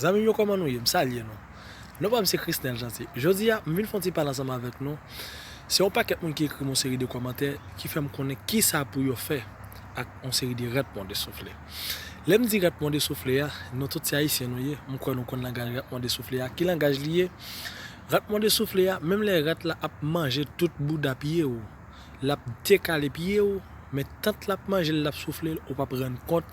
Zanmim yo koman nou ye m salye nou non pam se Chrisnel Jeanty jodi a m vin fon ti pale ansanm avèk nou se yon pakèt moun ki ekrim yon seri de kòmantè ki fèm konnen kisa pou yo fè ak yon seri de rèp mòde soufle. Lè m di rat mòde soufle a, nou tout se Ayisyen nou ye, m kwè nou konn langaj rat mòde soufle a. Ki langaj li ye? Rat mòde soufle a, menm lè rat la ap manje tout bouda pye ou, l ap dekale pye ou, men tant l ap manje l, l ap soufle l, ou pap rann kont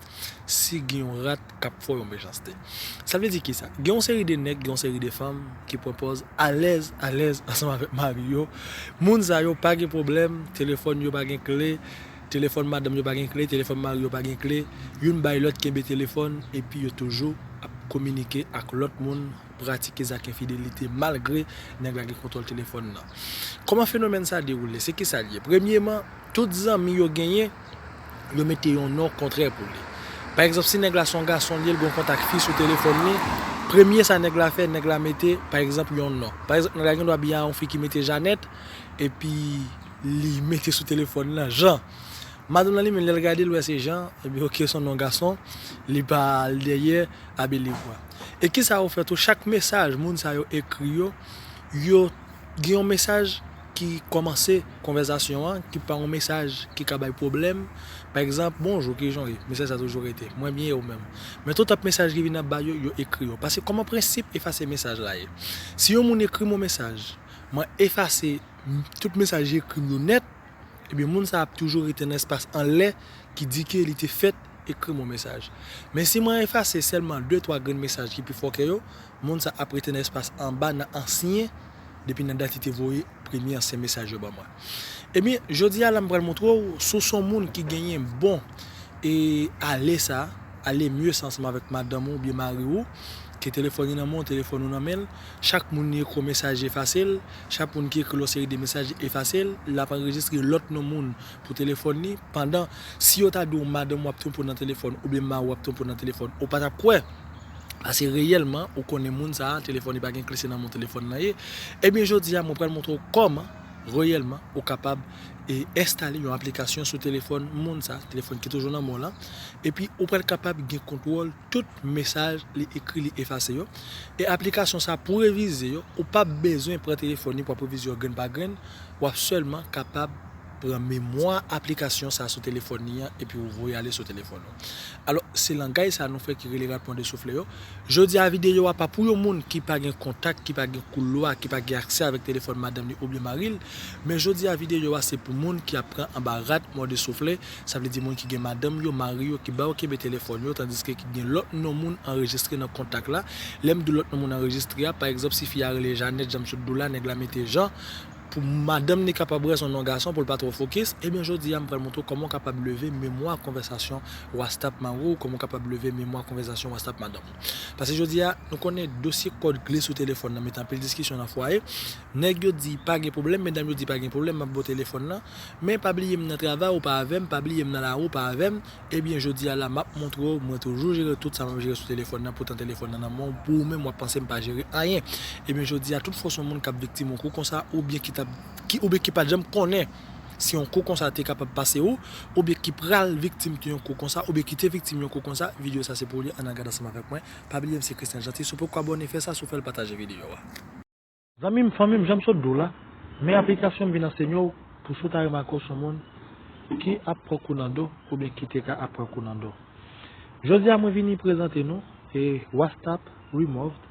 si gen yon rat k ap fè w yon mechanste. Sa vle di kisa? Gen yon seri de nèg, gen yon seri de fanm ki pran pòz alèz, alèz ansanm avèk mari yo. Moun sa yo pa gen pwoblèm, telefòn yo pa gen kle. Telefòn madanm yo pa gen kle, telefòn mari yo pa gen kle, youn bay lòt kenbe telefòn epi yo toujou ap kominike ak lòt moun, pratike zak enfidelite malgre nèg la gen kontwòl telefòn nan. Kòman fenomèn sa dewoule? Se kisa l ye? Premyeman, tout zanmi yo genyen, yo mete yon non kontrè pou li. Pa egzanp, si nèg la se yon gason l ye, l gen yon kontak fi sou telefòn li, premye sa nèg la fè, nèg la mete, pa egzanp, yon non. Pa egzanp, nèg la gendwa byen a yon fi ki mete Janèt epi. Li mete sou telefòn lan Jan. Madanm lan li menm lè l gade l wè se Jan, epi ok son non gason, li pa al dèyè Abbé Livoy. E kisa ou fè tou chak mesaj moun sa yo ekri yo, yo gen yon mesaj ki kòmanse konvèzasyon an ki pa yon mesaj ki ka bay pwoblèm, pa egzanp bonjou kijan w ye, mesaj sa toujou rete mwen byen e ou menm. Men tou tanp mesaj ki vin ap bay yo, yo ekri yo. Pase kòman prensip efase mesaj la ye. Si yon moun ekri m yon mesaj, mwen efase. tout mesaj li ekri m yo nèt, ebyen moun sa ap toujou rete nan espas anlè ki di ke li te fèt ekri m yon mesaj. Men si mwen efase sèlman de twa grenn mesaj ki pi fòkè yo, moun sa ap rete nan espas anba nan ansyen depi nan dat li te voye premye ansyen mesaj yo ban mwen. Ebyen jodi a la m pral montre w si w se yon moun ki genyen bon e ale sa, aller mieux sa ansanm avèk madanm ou oubyen mari ou ke telefòn li nan men w, telefòn ou nan men l, chak moun li ekri w mesaj li efase l. Chak moun ki ekri l yon seri de mesaj li efase l, l ap anrejistre lòt non moun pou telefòn li, pandan, si yo ta di w madanm ou ap twonpe w nan telefòn oubyen mari w ap twonpe w nan telefòn, ou pa t ap kwè, pase reyèlman, ou konnen moun sa a, telefòn li pa gen kle se nan men w telefòn nan ye, ebyen jodi a mwen pral montre w kòman, reyèlman, ou kapab e enstale yon aplikasyon sou telefòn moun sa a, telefòn ki toujou nan men w lan, epi ou pral kapab gen kontwòl. tout mesaj li ekri li efase yo e aplikasyon sa pou revize yo ou pap bezwen pran telefòn li pou ap revize yo grenn pa grenn wap sèlman kapab pran memwa aplikasyon sa sou telefòn li an epi ou voye ale sou telefòn ou alò se langay sa nou fè ki rele rapman de soufle yo jodi a videyo a pa pou yon moun ki pa gen kontak ki pa gen koulwa ki pa gen aksè avèk telefòn madanm li oubyen maril men jodi a videyo a se pou moun ki ap pran anba rad mòde soufle. Sa vle di moun ki gen madanm yo, mari yo ki ba yo kenbe telefòn yo tandiske ki gen lòt non moun anrejistre nan kontak la. Lè m di lòt non moun anrejistre a, pa egzanp si fi a rele Janèt jan m sot di w la, nèg la mete Jan pou madanm li kapab wè s on non gason pou l pa twò fokis, ebyen jodi a m pral montre w kòman w kapab leve memwa konvèsasyon wastap mari w, kòman w kapab leve memwa konvèsasyon wastap madanm ou. Pase jodi a, nou konnen dosye kòd kle sou telefòn nan mete anpil diskisyon nan fwaye. Nèg yo di pa gen pwoblèm, medam yo di pa gen pwoblèm, m ap ba w telefòn nan, Men pa bliye m nan travay ou pa avè m, pa bliye m nan lari ou pa avè m, ebyen jodi a la m ap montre w mwen toujou jere tout sa m ap jere sou telefòn nan poutan telefòn nan nan men w pou ou menm w ap panse m pa jere anyen. Ebyen jodi a tout fòs yon moun k ap viktim yon kou konsa oubyen ki t ap ki oubyen ki pa t janm konnen si yon kou konsa te kapab pase ou oubyen ki pral viktim t yon kou konsa oubyen ki te viktim yon kou konsa video sa se pou li an al gad ansanm avèk mwen pa bliye m se Christian Jeanty si w poko abòne fè sa si w fè l pataje video a. Zanmim fanmim janm sot diw la men aplikasyon m vin ansenyew pou si w ta remake w son moun ki ap pran kou nan do oubyen ki te ka ap pran kou nan do jodi a mwen vini prezante nou e wastap removed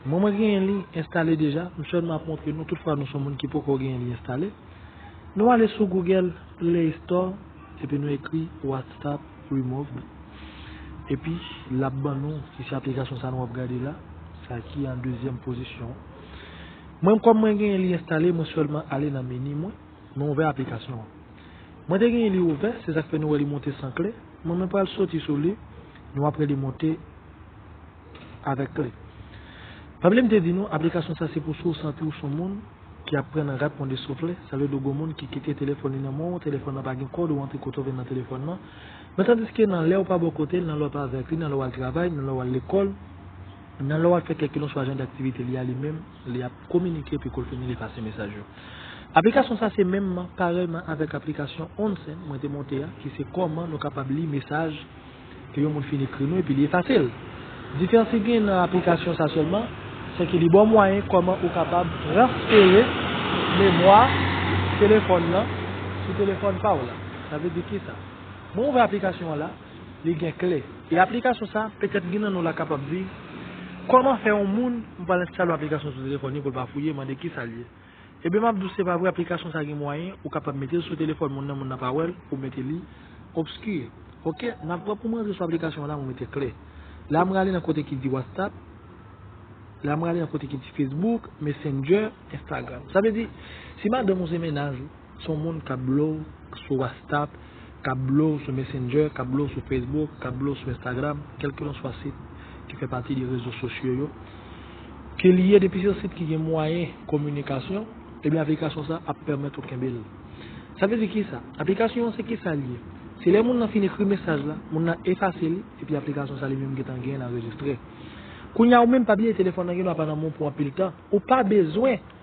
mwen mwen genyen li enstale deja m selman ap montre nou tout fwa nou son moun ki poko genyen li enstale nou ale sou google play store epi nou ekri wastap Remove Epi lap ban nou si se aplikasyon sa nou ap gade la sa ki an dezyèm pozisyon mwen kòm mwen genyen li enstale mwen sèlman ale nan meni mwen mwen ouvè aplikasyon an mwen te genyen li ouvè se sak fè nou wè li monte san kle mwen mwen pral soti sou li nou apre li monte avèk kle. Pabli m te di nou, aplikasyon sa se pou si w santi w son moun ki ap pran nan rat pon de soufle, sa vle di w gon moun ki kite telefòn li nan men w, telefòn nan pa gen kòd ou antre kote w vle nan telefòn nan, men tandiske nan lè w pa bò kote l, nan lè w pa avèk li, nan lè w al travay, nan lè w al lekòl, nan lè w ap fè kèlkilonswa jan daktivite li a li menm li ap kominike epi kou l fini li efase mesaj yo. Aplikasyon sa se menmman, parèyman avèk aplikasyon Onsen mwen te monte a ki se kòman nou kapab li mesaj ke yon moun fin ekri nou epi li efase l. Diferans ki genyen nan aplikasyon sa sèlman, se ke li ba w mwayen kòman ou kapab transfere memwa telefòn lan sou telefòn pa w la. Sa vle di kisa? Mwen ouvè aplikasyon an la, li gen kle. E aplikasyon sa, petèt gen nan nou la kapab di, kòman fè yon moun, m pral enstale yon aplikasyon sou telefòn li pou l pa fouye, mande kisa l ye. Ebyen map diw se pa vre aplikasyon sa gen mwayen ou kapab metel sou telefòn moun nan moun nan pa wèl ou mete li obscure ok nap pran poum rantre sou aplikasyon an la mwen mete kle la m rale nan kote ki di whatsapp la m rale nan kote ki di facebook messenger instagram sa vle di si madanm ou se mennaj ou. Son moun kap blow sou wastap, kap blow sou messenger, kap blow sou facebook, kap blow sou instagram, kelkelanswa sit ki fè pati de rezo sosyo yo, ke li ye depi se yon sit ki gen mwayen kominikasyon, ebyen aplikasyon sa ap pèmèt ou kenbe l. Sa vle di kisa? Aplikasyon an se kisa li ye? Se lè moun nan fin ekri mesaj la, moun nan efase li, epi aplikasyon sa li menm gentan genyen l anrejistre. Kounya ou menm pa bliye telefòn nan gen dwa pa nan men w pou anpil tan, ou pa bezwen.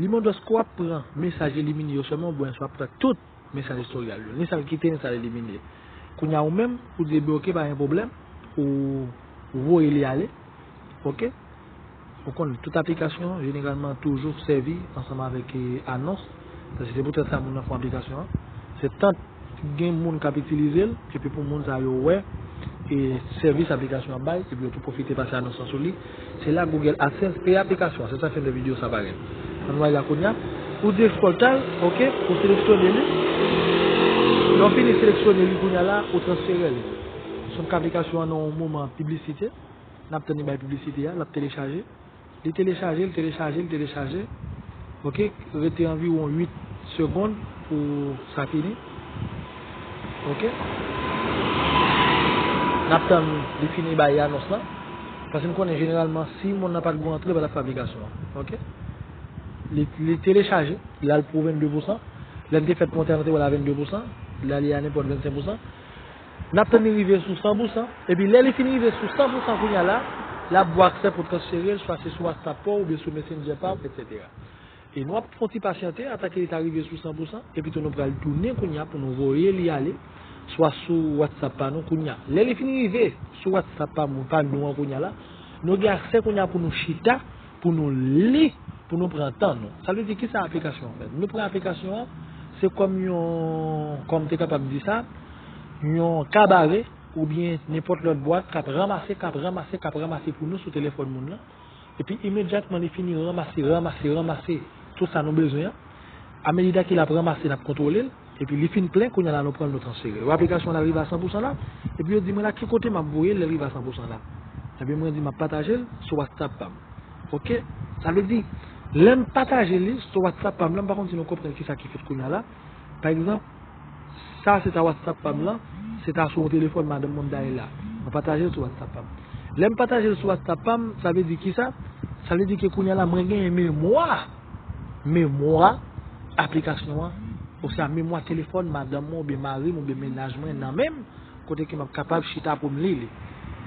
Limon dwès ke w ap pran mesaj elimine yo sèlman oubyen si w ap pran tout mesaj istoryal yo, ni sa l kite ni sa l elimine. Kounye a ou menm, ou di ebe ok pa gen pwoblèm, ou voye li ale ok. Ou konn tout aplikasyon jeneralman toujou sèvi ansanm avèk anons, paske se poutèt sa moun nan fon aplikasyon an. Se tant. Gen moun k ap itilize l epi pou moun sa yo wè sèvis aplikasyon an ap bay epi yo tou pwofite pase anons lan sou li. Se la Google AdSense peye aplikasyon an. Se sa fen de video sa parèt. An nou al la kounya. Ou di Exporta l, ok, ou seleksyone li. Lè w fini seleksyone li kounya la, ou transfere l. Sonk aplikasyon an nan yon moman piblisite. N ap tann li bay piblisite a, l ap telechaje. Li telechaje, li telechaje, li telechaje. Ok, rete anviwon 8 segond pou sa fini. Ok. Nap tann li fini bay anons lan. Paske nou konnen jeneralman si moun nan pat gou antre li pa tap fè aplikasyon an. Ok. Li telechaje, li al pou 22 pousan. Lè li te fèt monte an nou te wè l a 22 pousan. La li a nenpòt 25 pousan. N ap tann li rive sou 100 pou san, epi lè li fin rive sou 100 pou san kounye a la, l ap gen aksè pou w transfere l swa se sou whatsapp pa w oubyen sou messenger pa w etc. E nou ap fè yon ti pasyante atake li ta rive sou 100 pou san, epi tou nou pral tounen kounye a pou nou voye li ale swa sou whatsapp pa nou kounye a. Lè li fin rive sou whatsapp pa nou an kounye a la, nou gen aksè kounye a pou nou chita. pou nou li, pou nou pran tan nou. Sa vle di kisa aplikasyon an fè? Nou pran aplikasyon an, se kòm yon, kòm te kapab di sa, yon kabare oubyen nenpòt lòt bwat k ap ranmase, k ap ranmase, k ap ranmase pou nou sou telefòn moun lan. Epi imedyatman li fini ranmase, ranmase, ranmase tout sa nou bezwen an. Amedida ke l ap ranmase, l ap kontwole l. Epi li fin plen kounya la nou pranl nou transfere yo aplikasyon lal rive a 100 pousan la epi yo di mwen la ki kote map voyel lel rive a 100 pousan la epi mwen di map patajel sou whatsapp pam ok sa vle di lèm pataje li sou whatsapp pam lan m pa konn si nou konprann kisa ki fèt kounya la pa egzanp sa se ta whatsapp pam lan se ta sou yon telefòn madanm mwen mta ye la mwen patajel sou whatsapp pam lèm patajel sou whatsapp pam sa vle di kisa sa vle di ke kounya la mwen genyen memwa. Memwa aplikasyon an, oswa memwa telefòn madanm mwen oubyen mari m oubyen mennaj mwen nan men m, kote ke m ap kapab chita pou m li li.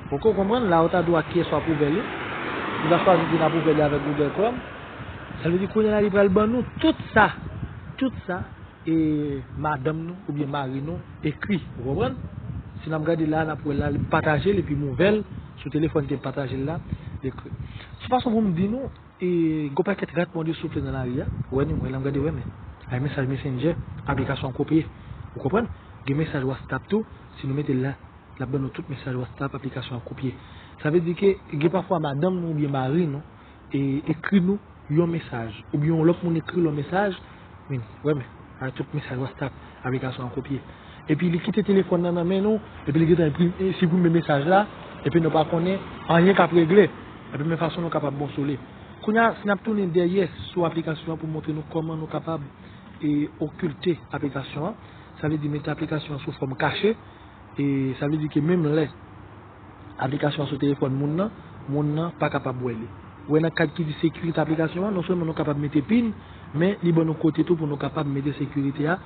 Poko konprann? La ou ta di w ak kiyès w ap ouvè li. Ou ta chwazi di n ap ouvè li avèk Google Chrome. Sa vle di kounye la li pral ban nou tout sa, tout sa e madanm nou oubyen mari nou ekri. Ou konprann? Si n ap gade la a, n ap wè la a li m pataje l epi m ouvè l sou telefòn ke m pataje l la, l ekri. Sou fason pou m di nou, Gon pakèt rat mòde soufle nan lari a, wè ni mwen la m gade wè men. Ay mesaj messenger, aplikasyon an kopye. Ou konprann? Gen mesaj whatstapp tou, si nou mete l la, l ap ban nou tout mesaj whatstapp aplikasyon an kopye. Sa vle di ke gen pafwa madanm nou oubyen mari nou ekri nou yon mesaj, oubyen yon lòt moun ekri l yon mesaj, Min, wè men, a tout mesaj wastap aplikasyon an kopye. Epi li kite telefòn nan nan men nou, epi li gentan enpri, e, siprime mesaj la, epi nou pa konnen anyen k ap regle. Epi men fason nou kapab bon sou li. Kounye a, si n ap tounen dèyè sou aplikasyon an pou montre nou kòman nou kapab e okilte aplikasyon an, sa vle di mete aplikasyon an sou fòm kache, e sa vle di ke menm lè. aplikasyon an sou telefòn moun nan, moun nan pa kapab wè li. Wè nan kad ki di sekirite aplikasyon an, non sèlman nou kapab mete pin, men li ban nou kote tou pou nou kapab mete sekirite a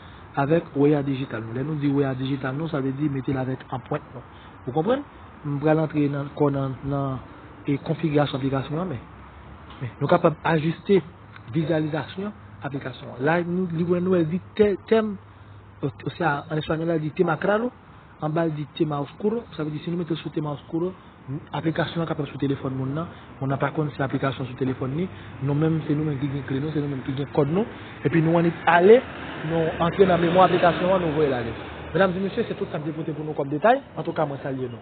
avèk wea dijital nou. Lè nou di wea dijital nou, sa vle di mete l avèk anpwent nou. Ou konprann? M pral antre nan kò nan konfigirasyon aplikasyon an, men nou kapab ajiste vizyalizasyon aplikasyon an. La li wè nou, el di tem, osea an espanyòl la di temacrado. Anba l di Tema Oscuro, sa vle di si nou mete l sou Tema Oscuro, aplikasyon an kapab sou telefòn moun nan, moun nan pa konn se aplikasyon sou telefòn li, nou menm se nou menm ki gen kle nou, se nou menm ki gen kòd nou, epi nou annik ale, nou antre nan memwa aplikasyon an, nou voye l ale. Medam e mesye, se tout sa m te pote pou nou kòm detay, antouka mwen salye nou.